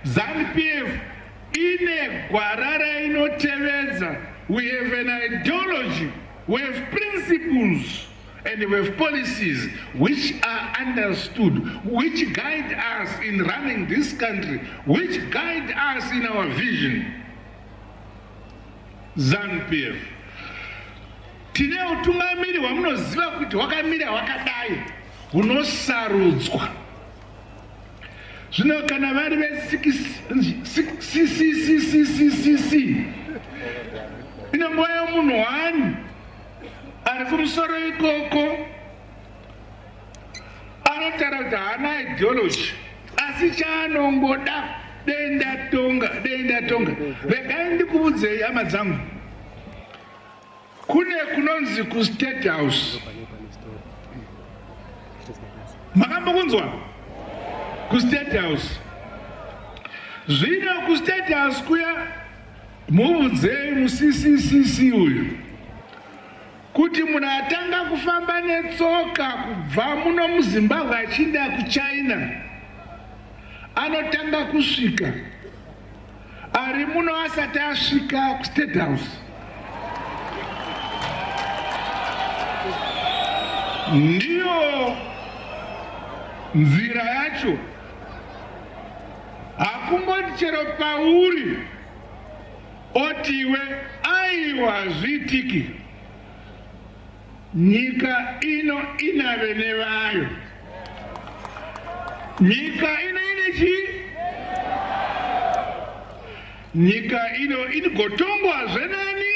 ZanuPF ine gwara rainotevedza we have an ideology we have principles and we have policies which are understood which guide us in running this country which guide us in our vision zanupf tine utungamiri hwamunoziva kuti hwakamira hwakadai hunosarudzwa zvino kana vari vesiccc ine nguva yomunhu wani ari kumusoro ikoko anotaura kuti haana ideology asi chaanongoda dei ndatonga dei ndatonga regai ndikuudzei hama dzangu Kune kunonzi ku State House. Makambokunzwa? Ku State House. Zvino ku State House kuya mubvunzei musisisisi uyu kuti munhu atanga kufamba netsoka kubva muno muzimbabwe achiinda kuchina anotanga kusvika ari muno asati asvika kustate house ndiyo nzira yacho hakungoti chero pauri otiwe aiwa zvitiki Nyika ino ina vene vayo. Nyika ino ine chi? Nyika ino inigotongwazve nani?